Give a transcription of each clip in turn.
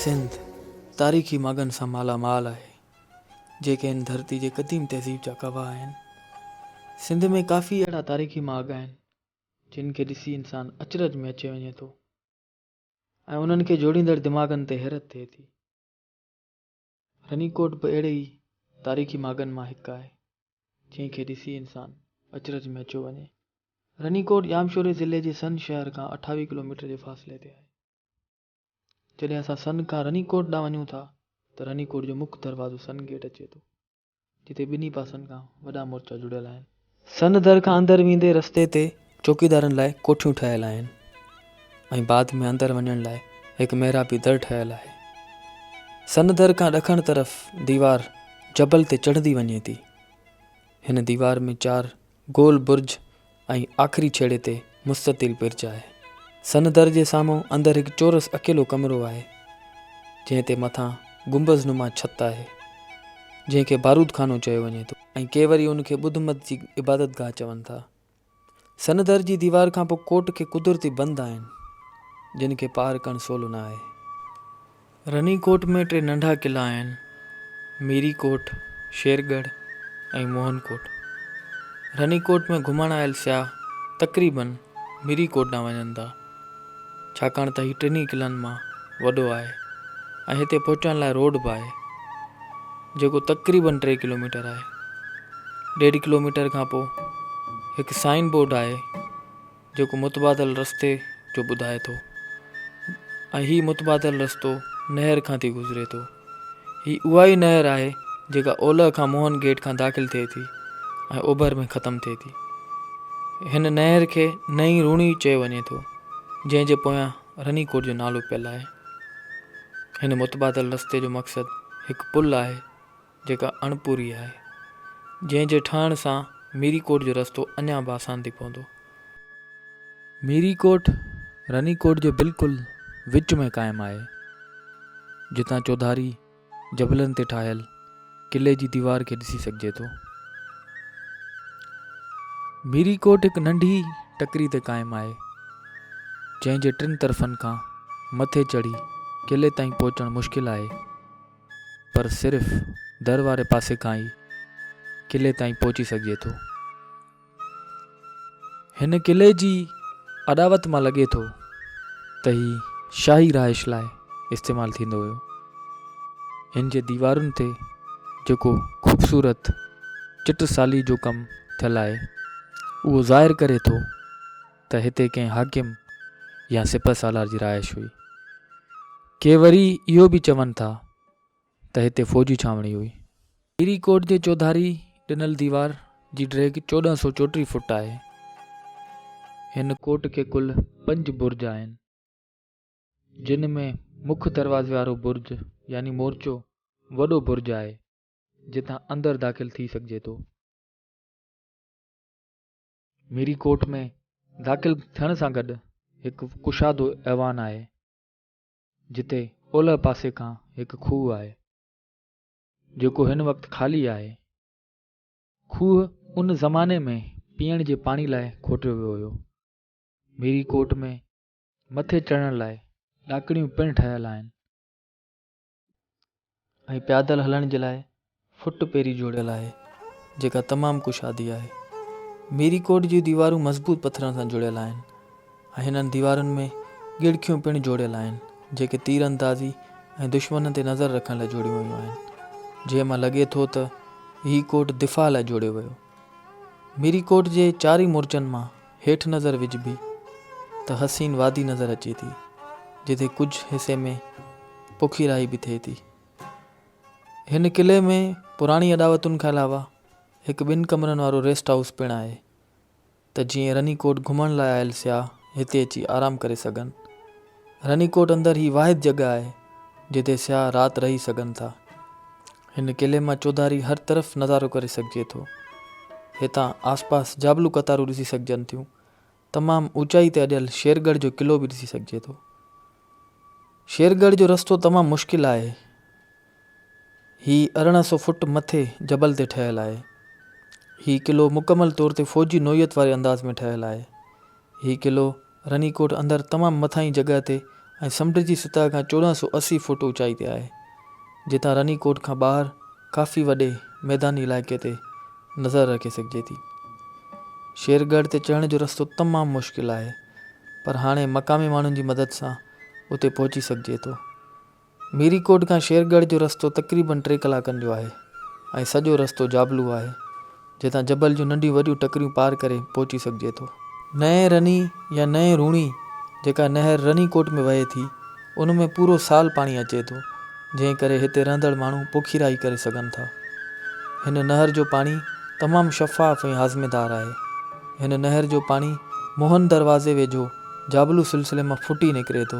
سنڌ تاريخي ماڳن سان مالا مال آهي، جيڪي هن ڌرتي جي قديم تهذيب جا گواهه آهن. سنڌ ۾ ڪافي اهڙا تاريخي ماڳ آهن، جن کي ڏسي انسان اچرج ۾ اچي وڃي ٿو ۽ انهن کي جوڙيندڙ دماغن تي حيرت ٿئي ٿي. رنيڪوٽ به اهڙي ئي تاريخي ماڳن مان هڪ آهي، جنهن کي ڏسي انسان اچرج ۾ اچيو وڃي. رنيڪوٽ ڄامشوري ضلعي جي سن شهر کان اٺاويهه ڪلوميٽر جي فاصلي تي آهي. جڏهن اسان سن کان رنيڪوٽ ڏانهن وڃون ٿا ته رنيڪوٽ جو مک دروازو سن گيٽ اچي ٿو. جتي ٻنهي پاسن کان وڏا مورچا جڙيل آهن. سن در کان اندر ويندي رستي تي چوڪيدارن لاء ڪوٺيون ٺهيل آهن ۽ بعد ۾ اندر وڃڻ لاء هڪ محرابي در ٺهيل آهي. سن در کان ڏکڻ طرف ديوار جبل تي چڙهندي وڃي ٿي. هن ديوار ۾ چار گول برج ۽ آخري ڇيڙي تي مستطيل برج آهي. سن در جي سامهون اندر هڪ چورس اڪيلو ڪمرو آهي، جنهن تي مٿان گنبذ نما ڇت آهي، جنهن کي بارود خانو چيو وڃي ٿو، ۽ ڪي وري ان کي ٻڌ مت جي عبادتگاهه چون ٿا. سن در جي ديوار کانپوء ڪوٽ کي قدرتي بند آهن، جن کي پار ڪرڻ سولو نه آهي. رني ڪوٽ ۾ ٽي ننڍا قلعا آهن، ميري ڪوٽ، شير ڳڙهه ۽ موهن ڪوٽ. رني ڪوٽ ۾ گهمڻ آيل سياح تقريباً ميري ڪوٽ ڏانهن وڃن ٿا، ڇاڪاڻ ته هي ٽنهي قلعن مان وڏو آهي ۽ هتي پهچڻ لاء روڊ به آهي، جيڪو تقريباً ٽي ڪلوميٽر آهي. ڏيڍ ڪلوميٽر کانپوء هڪ سائن بورڊ آهي، جيڪو متبادل رستي جو ٻڌائي ٿو ۽ هي متبادل رستو نهر کان ٿي گذري ٿو. هي اها ئي نهر آهي جيڪا اولهه کان موهن گيٽ کان داخل ٿئي ٿي ۽ اوڀر ۾ ختم ٿئي ٿي. هن نهر کي نئين روڻي چيو وڃي ٿو جنهن جي پويان رني ڪوٽ جو نالو پيل آهي. هن متبادل رستي جو مقصد هڪ پل آهي. جيڪا اڻ پوري آهي، جنهن جي ٺهڻ سان ميري ڪوٽ جو رستو اڃا به آسان ٿي پوندو. ميري ڪوٽ رني ڪوٽ جي بلڪل وچ ۾ قائم آهي، جتان چوڌاري جبلن تي ٺاهيل قلعي جي ديوار کي ڏسي سگهجي ٿو. ميري ڪوٽ هڪ ننڍي ٽڪري تي قائم آهي، جنهن جي ٽن طرفن کان مٿي چڙهي قلعي تائين پهچڻ مشڪل آهي. پر صرف در واري پاسي کان ئي قلعي تائين پهچي سگهجي ٿو. هن قلعي جي اڏاوت مان لڳي ٿو ته هي شاهي رهائش لاء استعمال ٿيندو هيو. هن جي ديوارن تي جيڪو خوبصورت چٽ سالي جو ڪم ٿيل آهي اهو ظاهر ڪري ٿو ته هتي ڪنهن حاڪم يا سپه سالار جي رهائش هئي. ڪي وري اهو به چون ٿا ته هتي فوجي ڇانوڻي هئي. هيري ڪوٽ جي چوڌاري ڏنل ديوار جي ڊيگهه چوڏهن سؤ چوٽيهه فوٽ آهي. هن ڪوٽ کي ڪل پنج برج آهن، جن ۾ مک دروازي وارو برج يعني مورچو وڏو برج آهي، جتان اندر داخل ٿي سگهجي ٿو. ميري ڪورٽ ۾ داخل ٿيڻ سان گڏ هڪ ڪشادو ايوان آهي جتي اولهه پاسي کان هڪ کوهه آهي جيڪو هن وقت خالي آهي کوهه ان زماني ۾ پيئڻ جي پاڻي لاء کوٽيو ويو هيو ميري ڪورٽ ۾ مٿي چڙهڻ لاء ڏاڪڻيون پڻ ٺهيل آهن ۽ پيادل هلڻ جي لاء فٽ پيري جوڙيل آهي جيڪا تمام ڪشادي آهي. ميري ڪوٽ جون ديوارون مضبوط پٿرن سان جڙيل آهن ۽ هنن ديوارن ۾ ڳڙکيون پڻ جوڙيل آهن جيڪي تير اندازي ۽ دشمنن تي نظر رکڻ لاء جوڙيون ويون آهن جنهن مان لڳي ٿو ته هي ڪوٽ دفاع لاء جوڙيو ويو. ميري ڪوٽ جي چارئي مورچن مان هيٺ نظر وجهبي ته حسين وادي نظر اچي ٿي، جتي ڪجهه حصي ۾ پکيرائي به ٿئي ٿي. هن قلعي ۾ پراڻي اڏاوتن کان علاوه هڪ ٻن ڪمرن وارو ريسٽ هائوس پڻ آهي ته جيئن رني ڪوٽ گهمڻ لاء آيل سياح هتي اچي آرام ڪري سگهن. رني ڪوٽ اندر هي واحد جڳهه آهي جتي سياح رات رهي سگهن ٿا. هن قلعي مان چوڌاري هر طرف نظارو ڪري سگهجي ٿو. هتان آسپاس جابلو قطارون ڏسي سگهجن ٿيون. تمام اوچائي تي اڏيل شير ڳڙهه جو قلعو به ڏسي سگهجي ٿو. شير ڳڙهه جو رستو تمام مشڪل آهي. هي ارڙهن سو فوٽ مٿي جبل تي ٺهيل آهي. هي قلعو مڪمل طور تي فوجي نوعيت واري انداز ۾ ٺهيل آهي. هي قلعو رني ڪوٽ اندر تمام مٿانهين جڳهه تي ۽ سمنڊ جي سطح کان چوڏهن سؤ اسي فوٽ اوچائي تي آهي، جتان رني ڪوٽ کان ٻاهر ڪافي وڏي ميداني علائقي تي نظر رکي سگهجي ٿي. شير ڳڙهه تي چڙهڻ جو رستو تمام مشڪل آهي، پر هاڻي مقامي ماڻهن جي مدد سان اتي پهچي سگهجي ٿو. ميري ڪوٽ کان شيرڳڙهه جو رستو تقريبن ٽي ڪلاڪن جو آهي ۽ سڄو رستو جابلو آهي، جتان جبل جون ننڍيون وڏيون ٽڪريون پار ڪري پهچي سگهجي ٿو. نئين رني يا نئين روڻي جيڪا نهر رني ڪوٽ ۾ وهي ٿي، ان ۾ پورو سال پاڻي اچي ٿو، جنهن ڪري هتي رهندڙ ماڻهو پوکيرائي ڪري سگهن ٿا. هن نهر جو پاڻي تمام شفاف ۽ هاضميدار آهي. هن نهر جو پاڻي موهن دروازي ويجهو، جابلو سلسلي مان ڦٽي نڪري ٿو.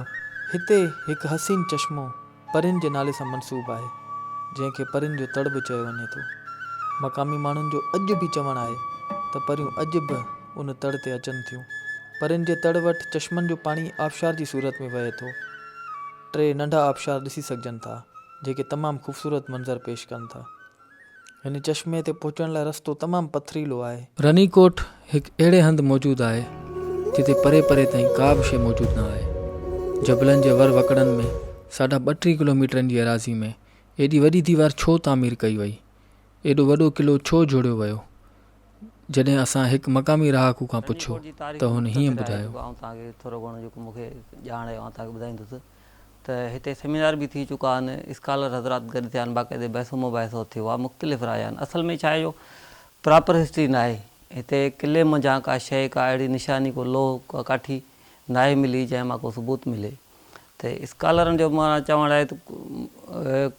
هتي هڪ حسين چشمو پرين جي نالي سان منسوب آهي، جنهن کي پرين جو تڙ به چيو وڃي ٿو. مقامي ماڻهن جو اڄ به چوڻ آهي ته پريون اڄ به ان تڙ تي اچن ٿيون. پرين جي تڙ وٽ چشمن جو پاڻي آبشار جي صورت ۾ وهي ٿو. ٽي ننڍا آبشار ڏسي سگهجن ٿا، جيڪي تمام خوبصورت منظر پيش ڪن ٿا. هن چشمي تي پهچڻ لاء رستو تمام پٿريلو آهي. رني ڪوٽ هڪ اهڙي هنڌ موجود آهي جتي پري پري تائين ڪا به شيء موجود نه آهي. جبلن جي ور وڪڙن ۾ ساڍا ٻه ٽي ڪلوميٽرن جي ايراضي ۾ ايڏي وڏي ديوار ڇو تعمير ڪئي وئي؟ ايڏو وڏو قلعو ڇو جوڙيو ويو؟ جڏهن اسان هڪ مقامي رهاڪو کان پڇيو ته هن هيئن ٻڌايو. ته هتي سيمينار به ٿي چڪا آهن، اسڪالر حضرات گڏ ٿيا آهن، باقاعدي بحث و مباحثو ٿيو آهي، مختلف رايا آهن، اصل ۾ ڇا آهي جو پراپر هسٽري ناهي، هتي قلعي منجهان ڪا شيء ڪا اهڙي نشاني ڪو لوهه ڪا ڪاٺي ناهي ملي جنهن مان ڪو ثبوت ملي ته اسڪالرن جو معنيٰ چوڻ آهي ته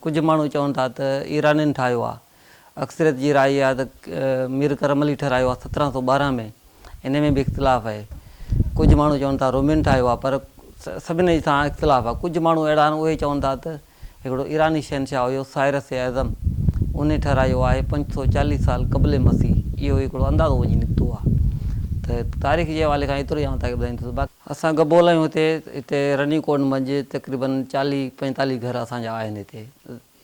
ڪجهه ماڻهو چون ٿا ته ايرانين ٺاهيو آهي، اڪثريت جي راء اها آهي ته مير ڪرم علي ٺهرايو آهي سترهن سؤ ٻارهن ۾ ان ۾ به اختلاف آهي ڪجهه ماڻهو چون ٿا رومين ٺاهيو آهي پر سڀني سان اختلاف آهي ڪجهه ماڻهو اهڙا آهن اهي چون ٿا ته هڪڙو ايراني شهنشاهه هيو سائرس اعظم ان ٺهرايو آهي پنج سؤ چاليهه سال قبل مسيح اهو هڪڙو اندازو وڃي نڪتو آهي ته تاريخ جي حوالي کان ايترو ئي آئون تاکي ٻڌائيندس باقي اسان گبول آهيون هتي هتي رني ڪوٽ منجهه تقريبن چاليهه پنجتاليهه گهر اسان جا آهن هتي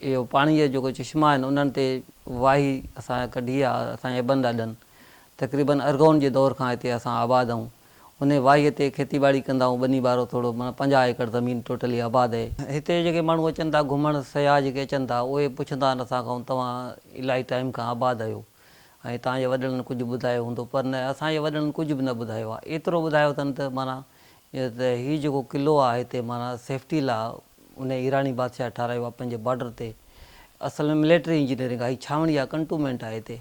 اهو پاڻيء جا جيڪو چشما آهن، انهن تي واهي اسان ڪڍي آ، اسان جا ابن ڏاڏن تقريبن ارغون جي دور کان هتي اسان آباد آهون. انهيء واهيء تي کيتي ٻاڙي ڪندا آهون، ٻني ٻارو ٿورو معنيٰ پنجاهه ايڪڙ زمين ٽوٽلي آباد اهي. هتي جيڪي ماڻهو اچن ٿا گهمڻ، سياح جيڪي اچن ٿا، اهي پڇندا آهن اسان کان توهان الائي ٽائيم کان آباد آهيو ۽ توهان جي وڏڙن ڪجهه ٻڌايو هوندو پر نه اسان جي وڏڙن ڪجهه به نه ٻڌايو آ. ايترو ٻڌايو اٿن ته معنيٰ ته هي جيڪو قلعو آ هتي معنيٰ سيفٽي لاء انهيء ايراني بادشاهه ٺاهرايو آهي پنهنجي بارڊر تي. اصل ۾ مليٽري انجنيئرنگ آهي. هي ڇانوڻي آهي، ڪنٽومينٽ آهي هتي.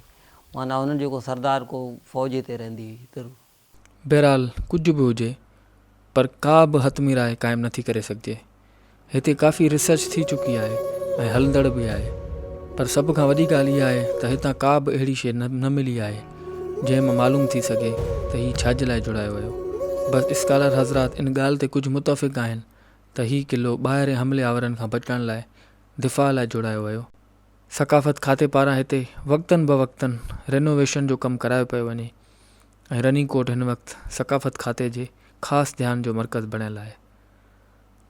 معنيٰ هنن جو ڪو سردار، ڪو فوج هتي رهندي هئي ضرور. بهرحال ڪجهه به هجي پر ڪا به حتمي راء قائم نٿي ڪري سگهجي. هتي ڪافي ريسرچ ٿي چڪي آهي ۽ هلندڙ به آهي. پر سڀ کان وڏي ڳالهه اها آهي ته هتان ڪا به اهڙي شيء نه ملي آهي جنهن مان معلوم ٿي سگهي ته هي ڇا جي لاء جڙايو ويو. بس اسڪالر حضرات ان ڳالهه تي ڪجهه متفق آهن ته هي قلعو ٻاهرين حملي آورن کان بچڻ لاء دفاع لاء جوڙايو ويو. ثقافت کاتي پاران هتي وقتن بوقتن رينوويشن جو ڪم ڪرايو پيو وڃي ۽ رني ڪوٽ هن وقت ثقافت کاتي جي خاص ڌيان جو مرڪز بڻيل آهي.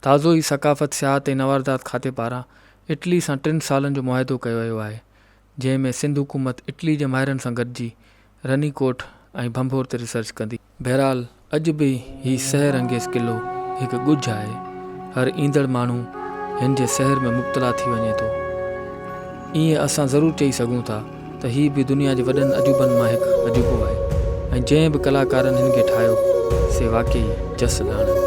تازو ئي ثقافت، سياحت ۽ نواردات کاتي پاران اٽلي سان ٽن سالن جو معاهدو ڪيو ويو آهي، جنهن ۾ سنڌ حڪومت اٽلي جي ماهرن سان گڏجي رني ڪوٽ ۽ ڀنڀور تي ريسرچ ڪندي. بهرحال اڄ به هي سحر انگيز قلعو هڪ ڳجهه آهي. هر ايندڙ ماڻهو هن جي سحر ۾ مبتلا ٿي وڃي ٿو. ائين اسان ضرور چئي سگهون ٿا ته هي به دنيا جي وڏن عجوبن مان هڪ عجوبو آهي ۽ جنهن به ڪلاڪارن هن کي ٺاهيو سي واقعي جس لاڻن.